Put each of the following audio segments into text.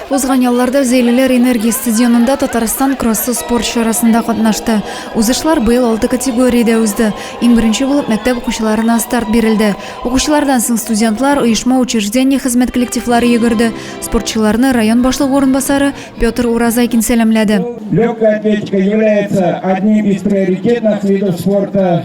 Узган ялларда Зәйлеләр энергия стадионында Татарстан кроссы спорт чарасында катнашты. Узышлар быел алты категориядә узды. Иң беренче булып мәктәп укучыларына старт бирелде. Укучылардан соң студентлар, оешма учреждение хезмәт коллективлары йөгерде. Спортчыларны район башлыгы урынбасары Петр Уразайкин сәламләде. Легкая атлетика является одним из приоритетных видов спорта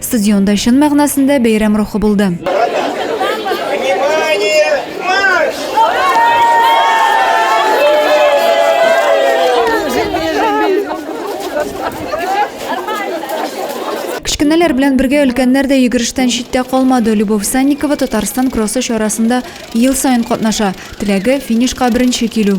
Стадионда чын мәгънәсендә бәйрәм рухы булды. Кечкенәләр белән бергә өлкәннәр дә йөгерештән читтә калмады. Любовь Санникова Татарстан кроссы чарасында ел саен катнаша. Теләге, финишка беренче килү.